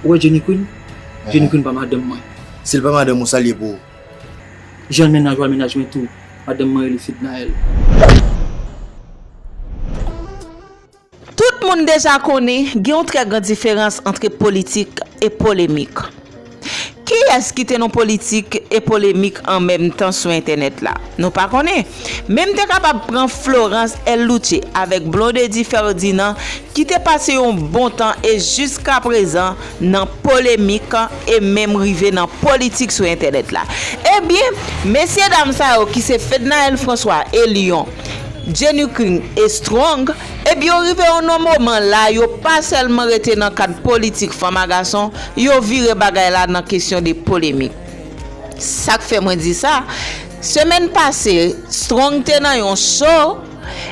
Ou wè Jenny Queen? Jenny Queen pa madanm mwen. Si l pa madanm ou, sa l ye pou ou? Jan l mennaj ou a mennaj mwen tou. Madanm mwen rele Fednaelle. Tout moun deja konnen gen yon trè gran diferans antre politik e polemik. Kiyès ki te nan politik e polemik an menm tan sou entènèt la? Nou pa konnen. Men m te kapab pran Florence El Louche avèk Blondedy Ferdinand ki te pase yon bon tan e jiskaprezan nan polemik e menm rive nan politik sou entènèt la. Ebyen, mesye dam sa yo ki se Fednaelle François e Lion, Jenny King e Strong, Epi yo rive yon non moman la yo pa sèlman rete nan kad politik fanm a gason, yo vire bagay la nan kesyon de polemik. Sa k fè mwen di sa, semèn pase Strong te nan yon show,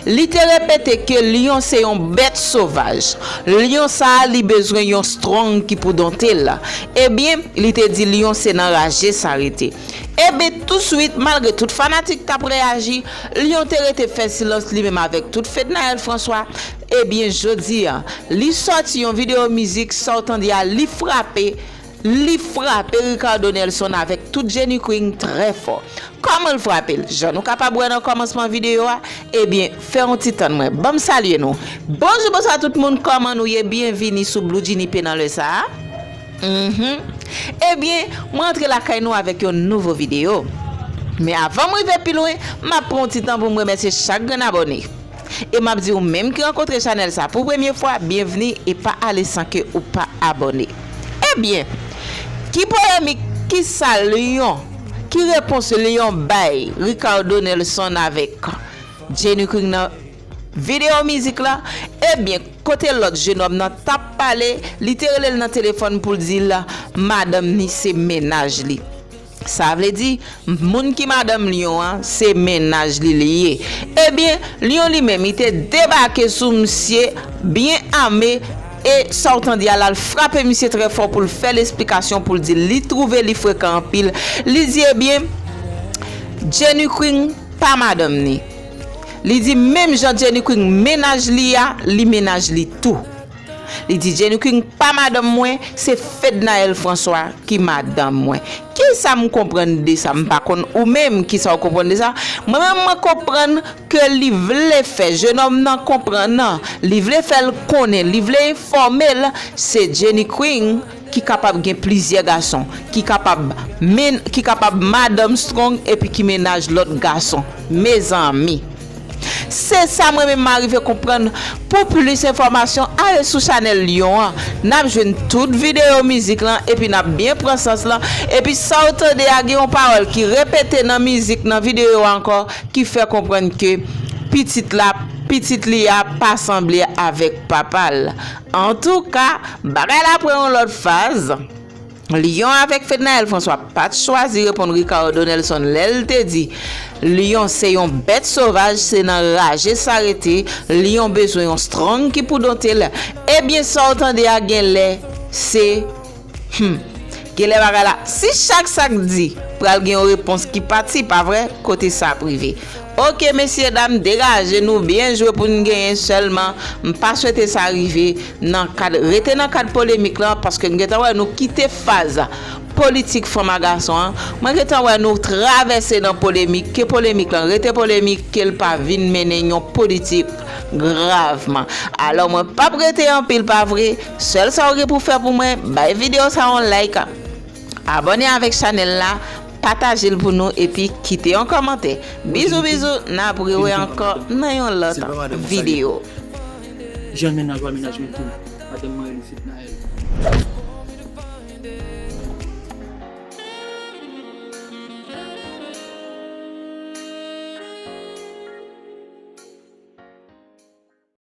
li te repete ke lyon se yon bèt sovaj, lyon sa a li bezwen yon Strong ki pou donte l. Ebyen, li te di lyon se nan raje sa rete. Enben, tousuit, malgre tout fanatik t ap reyaji, Lyon te rete fè silans li menm avèk tout Fednaelle François. Ebyen, jodi a, li sòti yon videyo mizik, sa w tande a, li frape, li frape Ricardo Nelson avèk tout Jenny Queen trè fò. Kòman l frape l? Jan nou kapab wè nan kòmansman videyo a, ebyen, fè yon ti tann mwen ban m salye nou. Bonjou, bonswa tout moun, kòman nou ye? Byenvini sou Blue Djinny P nan lè sa a. Mph Ebyen mwen antre lakay nou avèk yon nouvo video Men avan m rive pi lwen map pran yon ti tan pou m remèsye chak grenn abòne E map di ou menm ki rankontre chanèl sa pou premye fwa byenvni e pa ale san ke ou pa abòne Ebyen ki polèmik kisa Lion ki repons Lion bay Ricardo Nelson avèk Jenny Queen nan Video mizik la, ebyen kote lòt jenòm nan tap pale li te relel nan telefòn poul dil madanm ni se mennaj li sa vle di moun ki madanm Lion an se mennaj li li ye ebyen Lion li menm li te debake sou misye byen ame e sa ou tande a lal frape misye trè fò poul fèl esplikasyon poul dil li trouve li frekan anpil li di ebyen Jenny Queen pa madanm ni. Li di menm jan Jenny Queen mennaj li a li mennaj li tou. Li di Jenny Queen pa madanm mwen se Fednaelle François ki madanm mwen. Kisa m konprann de sa m pa konn ou menm kisa w konprann de sa? Mwen menm mwen konprann ke li vle fè jenòm nan konprann li vle fè l konnen li vle enfòme l se Jenny Queen ki kapab gen plizyè gason, ki kapab men, ki kapab madanm strong epi ki mennaj lòt gason mezanmi se sa mwen menm m arive konprann pou plis enfòmasyon ale sou chanèl Lion an nap jwenn tout videyo mizik lan epi nap byen pran sans lan epi sa w tande a gen yon pawòl ki repete nan mizik nan videyo a ankò ki fè konprann ke pitit la pitit li a pa sanble avèk papa l Antouka, bagay la pran yon lòt faz. Lion avèk Fednaelle François pa t chwazi reponn Ricardo Nelson lè l te di Lion se yon bèt sovaj se nan raje sa rete, Lion bezwen yon strong ki pou donte l, ebyen sa w tande a genlè se Humm genlè bagay la si chak sak di pral gen yon repons ki pati pa vre kote sa ap rive ok mesye dam degaje nou byen jwe pou n genyen sèlman m pa swete sa rive nan kad rete nan kad polemik lan paske m gentan wè nou kite faz politik fanm a gason an mwen gentan wè nou travèse nan polemik ke polemik lan rete polemik ke l pa vin mennen yon politik gravman alò mwen pap rete anpil pa vre. Sèl sa ou gen pou fè pou mwen, bay video sa yon like, abone avèk chanèl la, pataje l pou nou epi kite yon kòmantè. Bizou bizou, n ap rewe ankò nan yon lòt video. Jan mennaj wa mennaj mwen tou madanm mwen rele fednaelle.